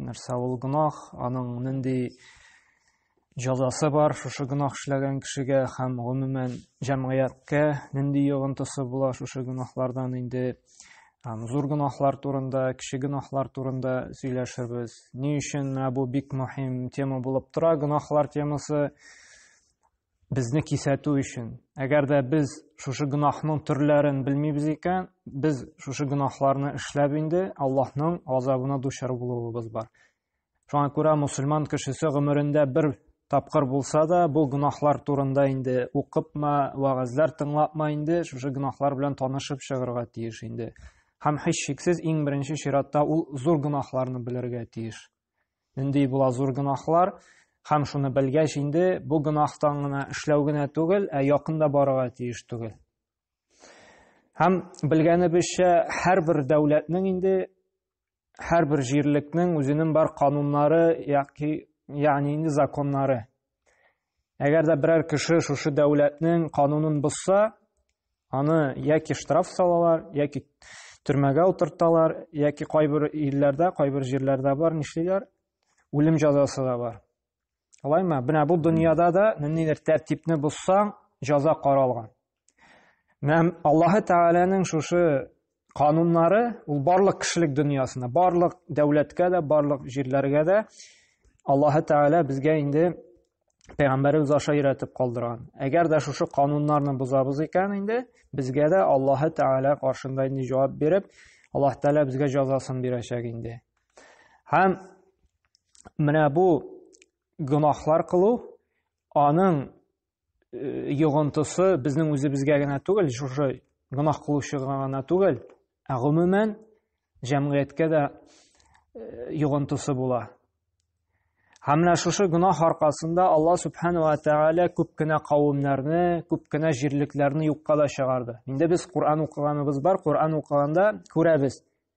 Нәрсә ул гынах, аның нинди җәзасы бар шушы гынах эшләгән кешегә һәм гомумән җәмгыятькә нинди йогынтысы була шушы гынахлардан инде һәм зур гынахлар турында, кеше гынахлар турында сөйләшербез. Ни өчен менә бу бик мөһим тема булып тора, гынахлар темасы. Безне кисәтү өчен. Әгәр дә без шушы гөнаһның төрләрен белмибез икән, без шушы гөнаһларны эшләп инде Аллаһның газабына дучар булуыбыз бар. Шуңа күрә мусульман кешесе гомерендә бер тапкыр булса да, бу гөнаһлар турында инде укыпма, вагазлар тыңлапма инде, шушы гөнаһлар белән танышып чыгарга тиеш инде. Һәм һичшиксез иң беренче чиратта ул зур гөнаһларны белергә тиеш. Нинди була зур гөнаһлар? Һәм шуны белгәч инде бу гөнаһтан гына эшләү генә түгел, ә якында барырга тиеш түгел. Һәм белгәнебезчә, һәрбер дәүләтнең инде һәрбер җирлекнең үзенең бар кануннары яки ягъни инде законнары Әгәр дә берәр кеше шушы дәүләтнең канунын бозса, аны яки штраф салалар, яки төрмәгә утырталар, яки кайбер илләрдә, кайбер җирләрдә бар, нишлиләр? Үлем җәзасы да бар. Алайма, менә бу дөньяда да ниндидер тәртипне бозсаң, җәза каралган. Менә Аллаһы Тәгаләнең шушы кануннары ул барлык кешелек дөньясына, барлык дәүләткә дә, барлык җирләргә дә Аллаһы Тәгалә безгә инде пәйгамбәребез аша өйрәтеп калдырган. Әгәр дә шушы кануннарны бозабыз икән инде, безгә дә Аллаһы Тәгалә каршында инде җавап биреп, Аллаһ Тәгалә безгә җәзасын бирәчәк инде. Һәм менә бу гөнаһлар кылу аның йогынтысы безнең үзебезгә генә түгел, шушы гөнаһ кылучыга гына түгел, ә гомумән җәмгыятькә дә йогынтысы була. Һәм менә шушы гөнаһ аркасында Алла Субхану ва Тәгалә күп кенә кавымнарны, күп кенә җирлекләрне юкка да чыгарды. Инде без Коран укыганыбыз бар, Коран укыганда күрәбез.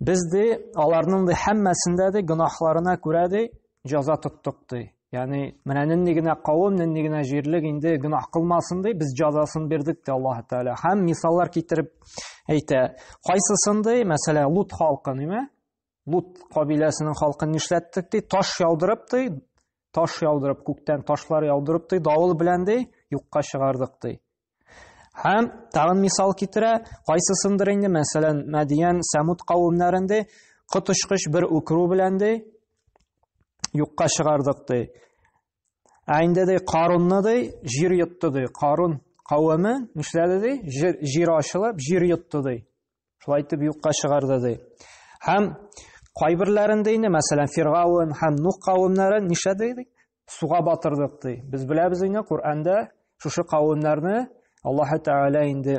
Без ди аларның ди һәммәсендә ди гөнаһларына күрә ди җәза тоттык ди. Ягъни менә нинди генә кавым, нинди генә җирлек инде гөнаһ кылмасын ди, без җәзасын бирдек ди Аллаһ Тәгалә. Һәм мисаллар китереп әйтә. Кайсысын ди, мәсәлән, Лут халкы, ниме? Лут кабиләсенең халкын нишләттек ди, таш яудырып ди, таш яудырып, күктән ташлар яудырып ди, давыл белән ди, юкка чыгардык ди. Һәм тагын мисал китерә, кайсысындыр инде, мәсәлән, Мәдиян Сәмуд кавымнарында коточкыч бер үкерү белән ди юкка чыгардык ди. Ә инде ди Карунны ди җир йотты ди. Карун кавеме нишләде ди? Җир, җир ачылып, җир йотты ди. Шулай итеп юкка чыгарды ди. Һәм кайберләрендә инде, мәсәлән, Фиргаун һәм Нух кавымнары нишләде ди? суга батырдык ди. Без беләбез инде Коръәндә шушы кавемнәрне Аллаһ Тәгалә инде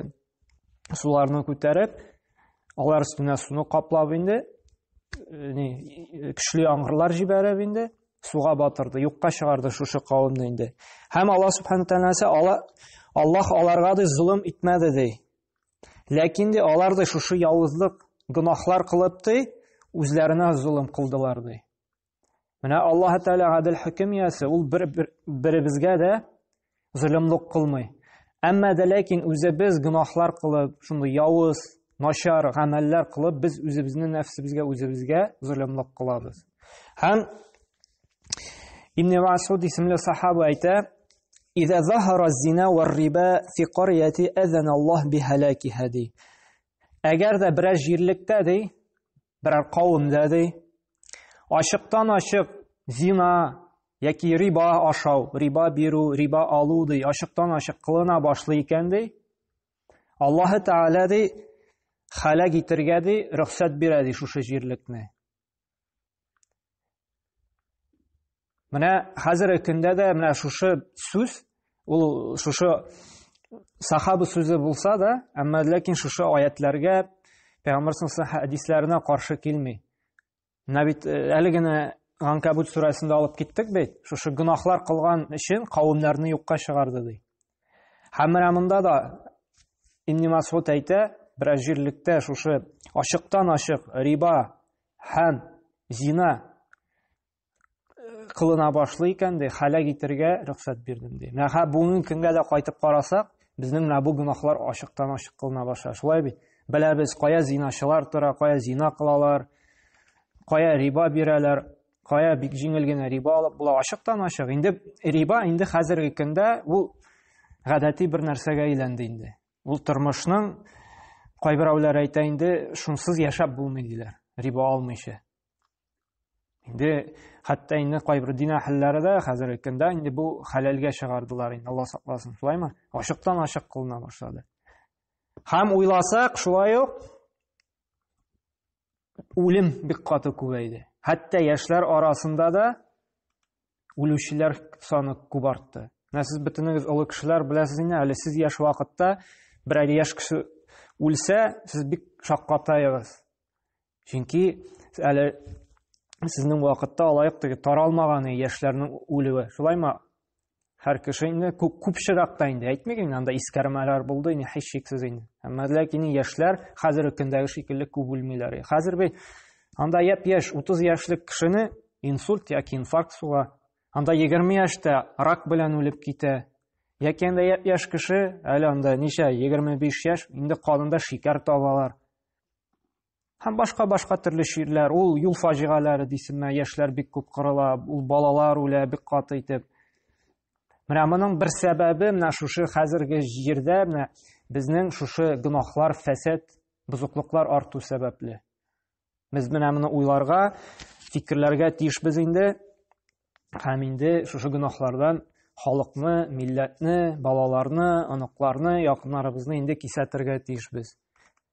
суларны күтәреп, алар өстенә суны каплап инде ни көчле яңгырлар җибәреп инде суга батырды, юкка чыгарды шушы кавемне инде. Һәм Аллаһ Субхану Тәгаләсе Аллаһ аларга да зулым итмәде ди. Ләкин дә алар да шушы ялгызлык гөнаһлар кылып ди, үзләренә зулым кылдылар ди. Менә Аллаһ Тәгалә гадел хөкем иясе, ул бер, бер, беребезгә дә зөлемлек кылмый. Әмма дә ләкин үзебез гөнаһлар кылып, шундый явыз, начар гамәлләр кылып, без үзебезне нәфсебезгә үзебезгә зөлемлек кылабыз. Һәм Ибн Масуд исемле сахаба әйтә, «Иза захара зина ва риба фи карияти азана Аллаһ би халакиха» ди. Әгәр дә берәр җирлектә ди, берәр кавемдә ди ачыктан ачык зина яки риба ашау риба бирү риба алу ди ачыктан ачык кылына башлый икән ди аллаһы тәгалә ди халәк итергә ди рөхсәт бирә ди шушы җирлекне Менә хәзерге көндә дә менә шушы сүз, ул шушы сахаба сүзе булса да, әмма ләкин шушы аятларга Пәйгамбәр саллаллаху хәдисләренә каршы килми. Менә бит э, әле генә Ганкабут сүрәсендә алып киттек бит. Шушы гынахлар кылган өчен кавымнарны юкка чыгарды ди. Һәм менә монда да Ибн Масгуд әйтә, бер җирлектә шушы ачыктан ачык риба һәм зина кылына башлый икән ди хәләк итергә рөхсәт бирдем ди менә бүгенге көнгә дә кайтып карасак безнең менә бу гөнаһлар ачыктан ачык кылына башлады шулай бит беләбез кая зиначылар тора кая зина кылалар кая риба бирәләр кая бик җиңел генә риба алып була ачыктан ачык инде риба инде хәзерге көндә ул гадәти бер нәрсәгә әйләнде инде ул тормышның кайберәүләр әйтә инде шунсыз яшәп булмый диләр риба алмыйча инде хәтта инде кайбер дин әһелләре дә хәзерге көндә инде бу хәләлгә чыгардылар инде алла сакласын шулаймы ачыктан ачык кылына башлады һәм уйласак шулай ук үлем бик каты күбәйде хәтта яшьләр арасында да үлүчеләр саны күп артты менә сез бөтенегез олы кешеләр беләсез инде әле сез яшь вакытта бер әле яшь кеше үлсә сез бик шаккатаегыз Чөнки әле сезнең вакытта алайык теге таралмаганы яшьләрнең үлүе. Шулаймы? Һәр кеше инде күп күпчерәктә инде әйтмик инде анда искәрмәләр булды инде һич шиксез инде. Әмма ләкин яшьләр хәзерге көндәге шикелле күп үлмиләр. Хәзер бит анда яп яшь 30 яшьлек кешене инсульт яки инфаркт суга, анда 20 яшьтә рак белән үлеп китә. Яки анда яп яшь кеше әле анда ничә 25 яшь инде канында шикәр табалар. Һәм башка-башка төрле ширләр, ул юл фаҗигаләре дисенме, яшьләр бик күп кырыла, ул балалар үлә бик каты итеп. Менә моның бер сәбәбе менә шушы хәзерге җирдә менә безнең шушы гөнаһлар, фәсәд, бозыклыклар арту сәбәпле. Без менә моны уйларга, фикерләргә тиешбез инде. Һәм инде шушы гөнаһлардан халыкны, милләтне, балаларны, оныкларны, якыннарыбызны инде кисәтергә тиешбез.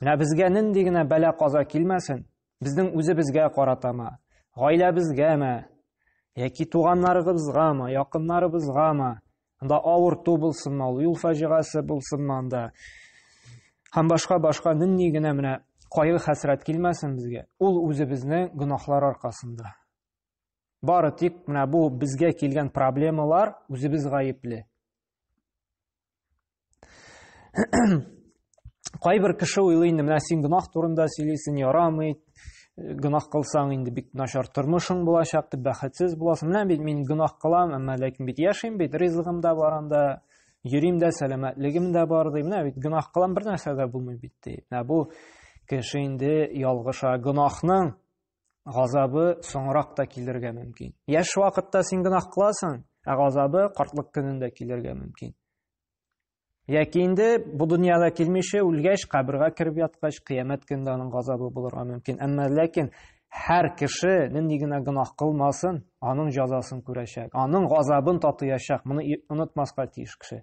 Менә безгә нинди генә бәла каза килмәсен, безнең үзебезгә каратамы, гаиләбезгәме, яки туганнарыбызгамы, якыннарыбызгамы, анда авырту булсынмы, ул юл фаҗигасе булсынмы анда, һәм башка башка нинди генә менә кайгы хәсрәт килмәсен безгә, ул үзебезнең гөнаһлар аркасында. Бары тик менә бу безгә килгән проблемалар үзебез гаепле. Кайбер кеше уйлый инде, менә син гөнаһ турында сөйлисең, ярамый, гөнаһ кылсаң инде бик начар тормышың булачак, дип бәхетсез буласың. Менә бит мин гөнаһ кылам, әмма ләкин бит яшим бит, ризыгым да бар анда, йөрим дә, сәламәтлегем дә бар, ди. Менә бит гөнаһ кылам, бер нәрсә дә булмый бит, ди. Менә бу кеше инде ялгыша. Гөнаһның газабы соңрак та килергә мөмкин. Яшь вакытта син гөнаһ кыласың, ә газабы картлык көнендә килергә мөмкин. Яки инде бу дөньяда килмичә үлгәч, кабергә кереп яткач, кыямәт көндә аның газабы булырга мөмкин. Әмма ләкин һәр кеше нинди генә гөнаһ кылмасын, аның җәзасын күрәчәк, аның газабын татыячак. Моны онытмаска тиеш кеше.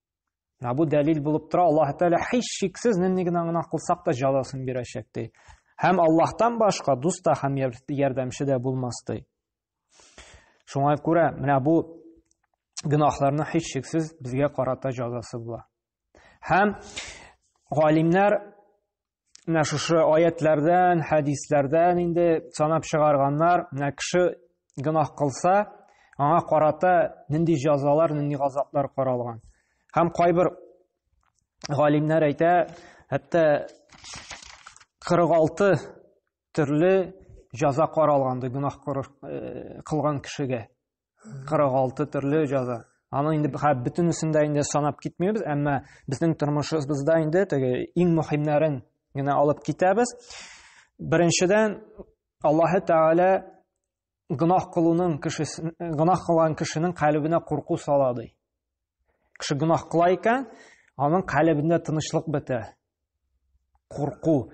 Менә бу дәлил булып тора, Аллаһ Тәгалә һич шиксез нинди генә гына кылсак та җәзасын бирәчәк ди. Һәм Аллаһтан башка дус та һәм ярдәмче дә булмас ди. Шуңа күрә менә бу гөнаһларны һич шиксез безгә карата җәзасы була. Һәм галимнәр менә шушы аятләрдән, хәдисләрдән инде санап чыгарганнар, менә кеше гөнаһ кылса, аңа карата нинди җәзалар, нинди газаплар каралган. Һәм кайбер галимнәр әйтә, хәтта 46 төрле җәза каралганды гөнаһ э, кылган кешегә. 46 төрле җаза аны инде бөтенесен дә инде санап китмибез әмма безнең тормышыбызда инде теге иң мөһимнәрен генә алып китәбез беренчедән аллаһы тәгалә гөнаһ кылуның кешесен гөнаһ кылган кешенең калебенә курку сала ди Кеше гүнах кыла икән, аның калебендә тынычлык бетә. Курку.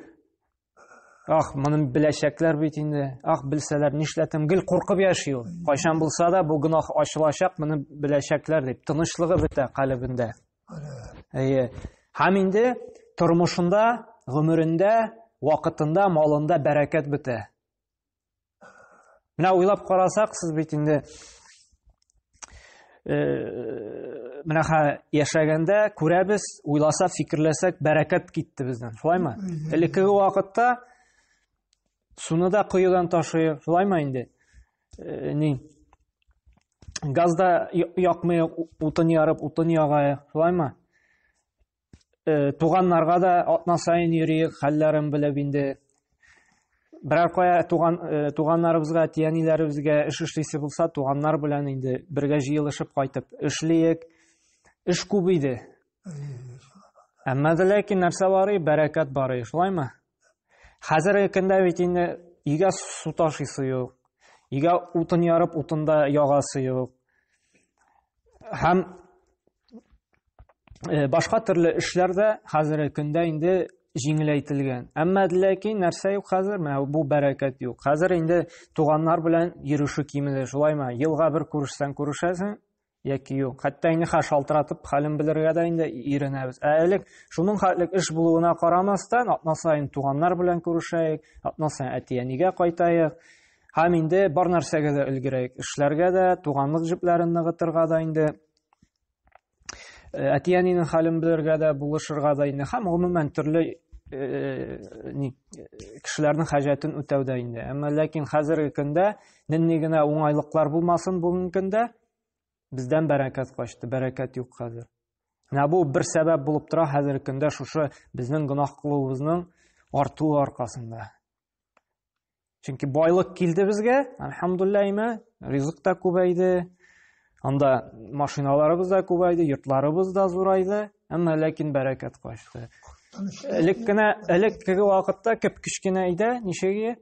Ах, моны беләчәкләр бит инде. Ах, белсәләр нишләтем? Гел куркып яши ул. Кайчан булса да бу гүнах ачылачак, моны беләчәкләр дип тынычлыгы бетә калебендә. Әйе. Һәм инде тормышында, гомерендә, вакытында, малында бәрәкәт бетә. Менә уйлап карасак, сез бит инде э, менә ха яшәгәндә күрәбез, уйласак, фикерләсәк, бәрәкәт китте бездән. Шулаймы? Элеккеге вакытта суны да коедан ташый, шулаймы инде? Э, ни? Газда якмый, утын ярып, утын ягая, шулаймы? Э, туганнарга да атна сайын йөриек хәлләрен белеп инде берәр кая туган э, туганнарыбызга әти әниләребезгә эш эшлисе булса туганнар белән инде бергә җыелышып кайтып эшлиек эш күп иде әмма дә ләкин нәрсә барый бәрәкәт барый шулаймы хәзерге көндә бит инде өйгә су ташыйсы юк өйгә утын ярып утында ягасы юк һәм э, башка төрле эшләр дә хәзерге көндә инде җиңеләйтелгән. Әмма ләкин нәрсә юк хәзер? Менә бу бәрәкәт юк. Хәзер инде туганнар белән йөрише кимеде, шулаймы? Елга бер күрешсәң күрешәсең, яки юк. Хәтта инде хә шалтыратып хәлен белергә дә инде иренәбез. Ә элек шуның хәтлек эш булуына карамастан, атна саен туганнар белән күрешәек, атна саен әти-әнигә кайтаек. Һәм инде бар нәрсәгә дә өлгерәек. Эшләргә дә, туганлык җепләрен ныгытырга да инде Э, әти-әнинең хәлен белергә дә, булышырга да инде һәм гомумән төрле э, ни э, кешеләрнең хаҗәтен үтәүдә инде. Әмма ләкин хәзерге көндә нинди генә уңайлыклар булмасын бүгенге көндә бездән бәрәкәт качты, бәрәкәт юк хәзер. Менә бу бер сәбәп булып тора хәзерге көндә шушы безнең гөнаһ кылуыбызның артуы аркасында. Чөнки байлык килде безгә, альхамдулилла имә, ризык та күбәйде, анда машиналарыбыз да күбәйде, йортларыбыз да зурайды, әмма ләкин бәрәкәт качты. Элек кенә, элек теге вакытта кеп кечкенә иде, ничеге?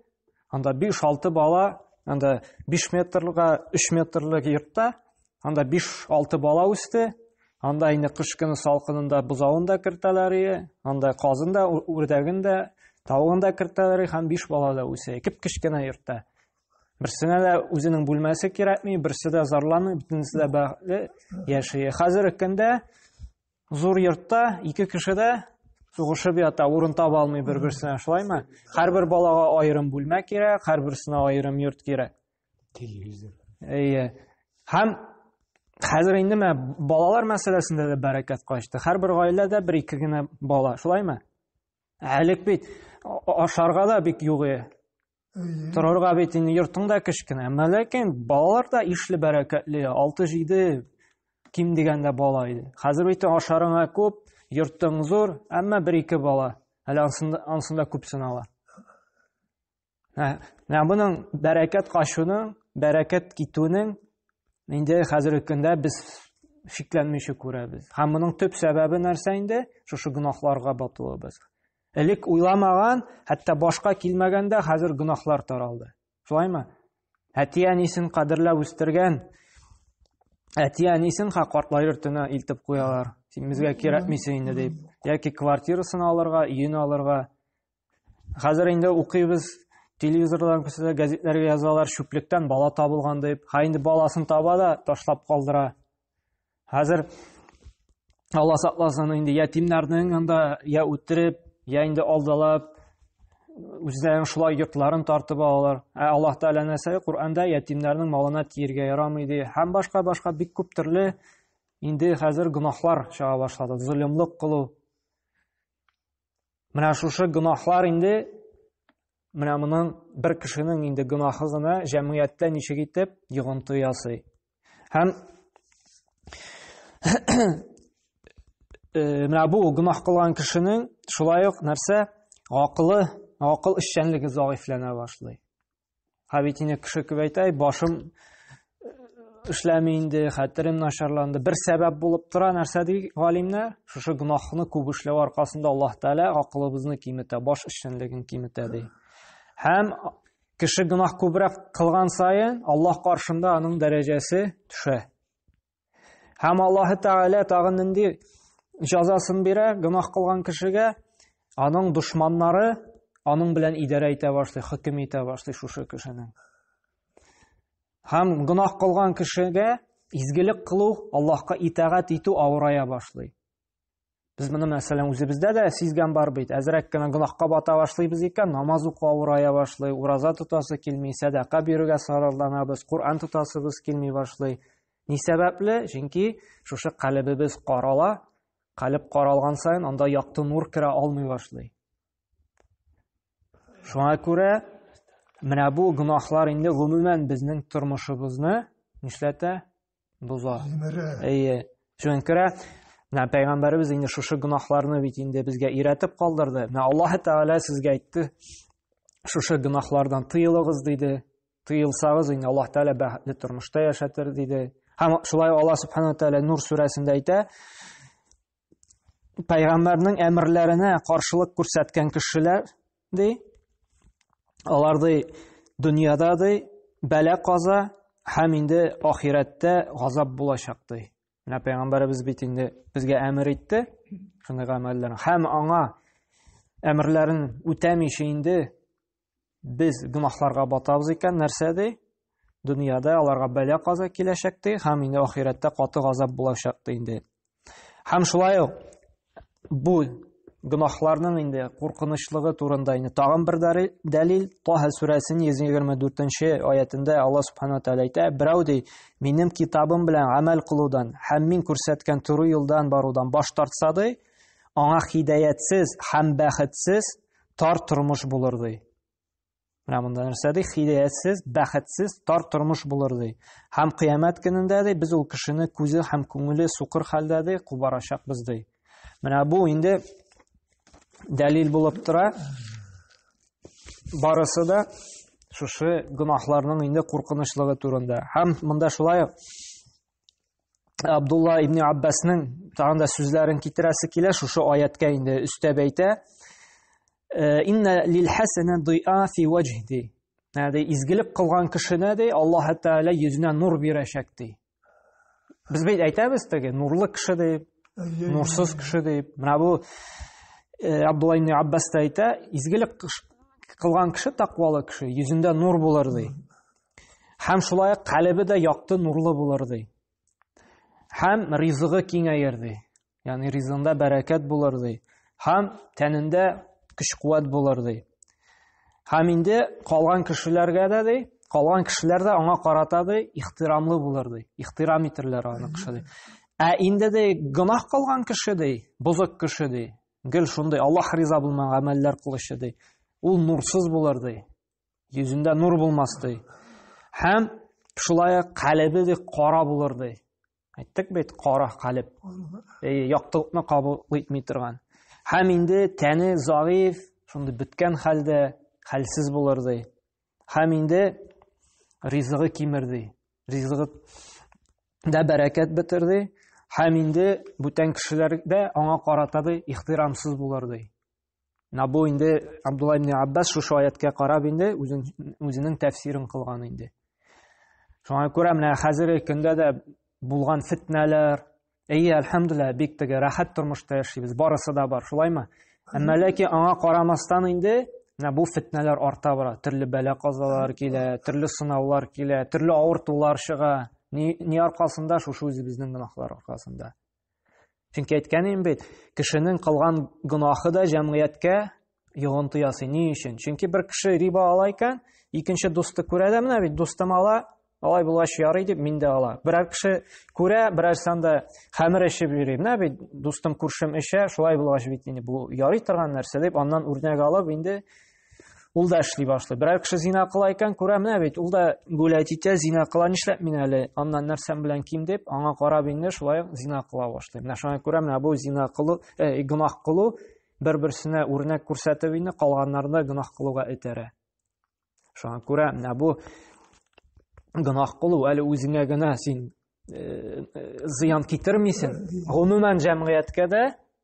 Анда 5-6 бала, анда 5 метрлыга 3 метрлык йортта Анда 5-6 бала үсте. Анда инде кыш көне салкынында бозавын да кертәләр, анда казын да, үрдәген дә, тавыгын да кертәләр һәм 5 бала да үсә. Кип кечкенә йортта. Берсенә дә үзенең бүлмәсе кирәкми, берсе дә зарланмый, бөтенесе дә бәхетле яши. Хәзерге көндә зур йортта ике кеше дә сугышып ята, урын таба алмый бер-берсенә, шулаймы? Һәрбер балага аерым бүлмә кирәк, һәрберсенә аерым йорт кирәк. телевизор әйе һәм хәзер инде мә балалар мәсьәләсендә дә бәрәкәт качты һәрбер гаиләдә бер ике генә бала шулаймы әлек бит ашарга да бик юк э. торырга бит инде йортың да кечкенә әмма ләкин балалар да ишле бәрәкәтле алты җиде ким дигәндә бала иде хәзер бит ашарыңа күп йортың зур әмма бер ике бала әле ансында күп сынала Менә моның бәрәкәт качуның, бәрәкәт китүнең инде хәзерге көндә без шикләнмичә күрәбез. Һәм моның төп сәбәбе нәрсә инде? Шушы гөнаһларга батуыбыз. Элек уйламаган, хәтта башка килмәгәндә хәзер гөнаһлар таралды. Шулаймы? Әти-әнисен кадерләп үстергән әти-әнисен ха картлар төне илтеп куялар. Син безгә кирәкмисең инде дип. Яки квартирасын алырга, өен алырга, Хәзер инде укыйбыз, телевизордан күрсәтә, газетләргә язалар, чүплектән бала табылган дип. Ха инде баласын таба да ташлап калдыра. Хәзер Алла сакласын инде ятимнәрнең анда я үтереп, я инде алдалап үзләрен шулай йортларын тартып алалар. Ә Аллаһ Тәгалә нәрсә Коръәндә ятимнәрнең малына тиергә ярамый ди. Һәм башка башка бик күп төрле инде хәзер гөнаһлар чыга башлады. Золымлык кылу, Менә шушы гөнаһлар инде менә моның бер кешенең инде гөнаһы гына җәмгыятьтә ничек итеп йогынты ясый. Һәм э, менә бу гөнаһ кылган кешенең шулай ук нәрсә? Акылы, акыл эшчәнлеге заифләнә башлый. Ә бит инде кеше күп әйтә, башым эшләми инде, хәтерем начарланды. Бер сәбәп булып тора нәрсә ди галимнәр? Шушы гөнаһны күп эшләү аркасында Аллаһ Тәгалә акылыбызны киметә, баш эшчәнлеген киметә ди. Һәм кеше гөнаһ күбрәк кылган саен Аллаһ каршында аның дәрәҗәсе төшә. Һәм Аллаһ Тәгалә тагын нинди җәзасын бирә гөнаһ кылган кешегә? Аның душманнары аның белән идарә итә башлый, хөкем итә башлый шушы кешенең. Һәм гөнаһ кылган кешегә изгелек кылу, Аллаһка итагать итү авырая башлый. Без моны мәсәлән үзебездә дә сизгән бар бит. Әзрәк кенә гөнаһка бата башлыйбыз икән, намаз уку авырая башлый, ураза тотасы килми, сәдака бирергә саралланабыз, Коръән тотасыбыз килми башлый. Ни сәбәпле? Чөнки шушы калебебез карала, калеб каралган саен анда якты нур керә алмый башлый. Шуңа күрә менә бу гөнаһлар инде гомумән безнең тормышыбызны нишләтә? Боза. Җимерә. Әйе. Чөнкерә. Менә пәйгамбәребез инде шушы гөнаһларны бит инде безгә өйрәтеп калдырды. Менә Аллаһ Тәгалә сезгә әйтте, шушы гөнаһлардан тыелыгыз диде. Тыелсагыз, инде Аллаһ Тәгалә бәхетле тормышта яшәтер диде. Һәм шулай Аллаһ Субхану Тәгалә Нур сүрәсендә әйтә, Пәйгамбәрнең әмерләренә каршылык күрсәткән кешеләр, ди, алар ди, дөньяда ди, бәлә каза һәм инде ахирәттә газап булачак ди. Менә пәйгамбәребез бит инде безгә әмер итте, шундый гамәлләр. Һәм аңа әмерләрен үтәмичә инде Без гөнаһларга батабыз икән, нәрсә ди? Дөньяда аларга бәла каза киләчәк ди, һәм инде ахирәттә каты газап булачак ди инде. Һәм шулай ук бу гөнаһларның инде куркынычлыгы турында инде тагын бер дәлил Таһа сүрәсенең 124-нче аятында Алла субхана тәгалә әйтә, берәү ди, минем китабым белән гамәл кылудан һәм мин күрсәткән туры юлдан барудан баш тартса ди, аңа хидәятсез һәм бәхетсез Тар тормыш булыр ди. Менә монда нәрсә ди? Хидаятсез, бәхетсез, тар тормыш булыр ди. Һәм кыямәт көнендә ди, без ул кешене күзе һәм күңеле сукыр хәлдә ди, кубарачакбыз ди. Менә бу инде дәлил булып тора. Барысы да шушы гөнаһларның инде куркынычлыгы турында. Һәм монда шулай Абдулла ибн Аббасның тагын да сүзләрен китерәсе килә шушы аяткә инде өстәп әйтә. Э, Инна лил хасана дуа фи ваҗди. Нәди изгелек кылган кешене ди Аллаһ Тәгалә йөзенә нур бирәчәк ди. Без бит әйтәбез теге нурлы кеше дип, нурсыз кеше дип. Менә бу э, Абдулла ибн Аббас та әйтә, изгелек кылган кеше таквалы кеше, йөзендә нур булыр ди. Һәм шулай ук калебе дә якты нурлы булыр ди. Һәм ризыгы киңәер ди. Ягъни ризыгында бәрәкәт булыр ди. Һәм тәнендә көч-куәт булыр ди. Һәм инде калган кешеләргә дә ди, калган кешеләр дә аңа карата ди, ихтирамлы булыр ди. Ихтирам итерләр аны кеше ди. Ә инде ди, гынах калган кеше ди, бозык кеше ди. Гел шундый Аллаһ риза булмаган гамәлләр кылучы ди. Ул нурсыз булыр ди. Йөзендә нур булмас ди. Һәм шулай ук калебе ди кара булыр ди. Әйттек бит, кара калеб. Яктылыкны кабул итми торган. Һәм инде тәне заиф, шундый беткән хәлдә хәлсез булыр ди. Һәм инде ризыгы кимер ди. Ризыгы да бәрәкәт бетер ди. Һәм инде бүтән кешеләр дә аңа карата ди, ихтирамсыз булыр ди. Менә бу инде Абдулла ибн Аббас шушы аяткә карап инде үзенең тәфсирен кылган инде. Шуңа күрә менә хәзерге көндә дә булган фитнәләр, әйе, әлхәмдулилла, бик теге рәхәт тормышта яшибез, барысы да бар, шулаймы? Әмма ләкин аңа карамастан инде менә бу фитнәләр арта бара. Төрле бәла казалар килә, төрле сынаулар килә, төрле авыртулар чыга. Ни, ни аркасында? Шушы үзебезнең гөнаһлар аркасында. Чөнки әйткәнем бит, кешенең кылган гөнаһы да җәмгыятькә йогынты ясый. Ни өчен? Чөнки бер кеше риба ала икән, икенче дусты күрә дә менә бит дустым ала, алай булгач ярый дип мин дә ала. Берәр кеше күрә, берәр санда хәмер эчеп йөри. Менә бит дустым күршем эчә, шулай булгач бит инде бу ярый торган нәрсә дип аннан үрнәк алып инде ул да эшли башлый берәр кеше зина кыла икән күрә менә бит ул да гулять итә зина кыла нишләп мин әле аннан нәрсәм белән ким дип аңа карап инде шулай зина кыла башлый менә шуңа күрә менә бу зина кылу э, гөнаһ кылу бер берсенә үрнәк күрсәтеп инде калганнарны гөнаһ кылуга этәрә шуңа күрә менә бу гөнаһ кылу әле үзеңә генә син э, э, зыян китермисең гомумән җәмгыятькә дә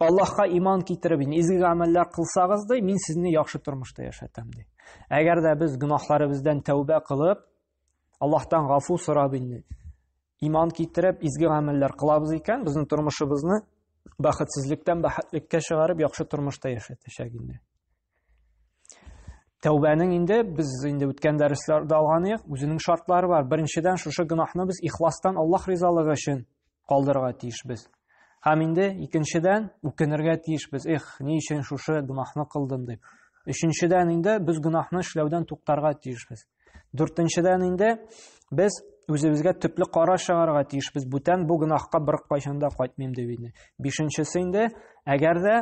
Аллаһка иман китереп, изге гамәлләр кылсагыз, ди, мин сезне яхшы тормышта яшәтәм, ди. Әгәр дә без гөнаһларыбыздан тәүбә кылып, Аллаһтан гафу сорап инде, иман китереп, изге гамәлләр кылабыз икән, безнең тормышыбызны бәхетсезлектән бәхетлеккә чыгарып, яхшы тормышта яшәтәчәк инде. Тәүбәнең инде без инде үткән дәресләрдә алган идек, үзенең шартлары бар. Беренчедән шушы гөнаһны без ихластан Аллаһ ризалыгы өчен калдырырга тиешбез. Һәм инде икенчедән үкенергә тиешбез. Эх, ни өчен шушы гөнаһны кылдым дип. Өченчедән инде без гөнаһны эшләүдән туктарга тиешбез. Дүртенчедән инде без үзебезгә төпле караш чыгарырга тиешбез. Бүтән бу гөнаһка бер кайчан да кайтмыйм дип инде. Бишенчесе инде, әгәр дә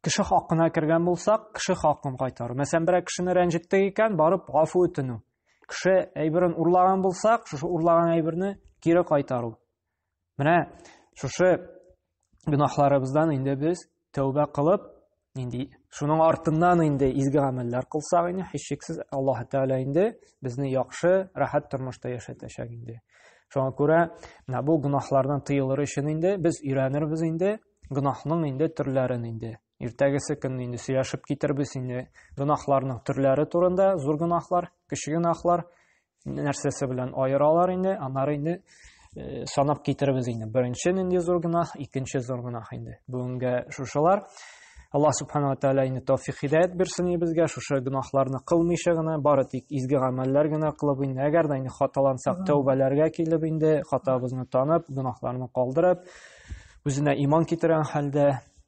кеше хакына кергән булсак, кеше хакын кайтару. Мәсәлән, берәр кешене рәнҗеттек икән, барып гафу үтенү. Кеше әйберен урлаган булсак, шушы урлаган әйберне кире кайтару. Менә шушы гөнаһларыбыздан инде без тәүбә кылып, нинди шуның артыннан инде изге гамәлләр кылсак инде, һичшиксез Аллаһ Тәгалә инде безне яхшы, рәхәт тормышта яшәтәчәк инде. Шуңа күрә менә бу гөнаһлардан тыелыр өчен инде без өйрәнербез инде гөнаһның инде төрләрен инде. Иртәгесе көнне инде сөйләшеп китербез инде гөнаһларның төрләре турында, зур гөнаһлар, кече гөнаһлар, нәрсәсе белән аералар инде, аннары инде э, санап китербез инде. Беренче нинди зур гөнаһ, икенче зур гөнаһ инде. Бүгенгә шушылар. Аллаһ субханала тәгалә инде тәүфик хидәят бирсен безгә, шушы гөнаһларны кылмыйча гына, бары тик изге гамәлләр генә кылып инде, әгәр дә инде хаталансак, тәүбәләргә килеп инде, хатабызны танып, гөнаһларны калдырып, үзенә иман китерән хәлдә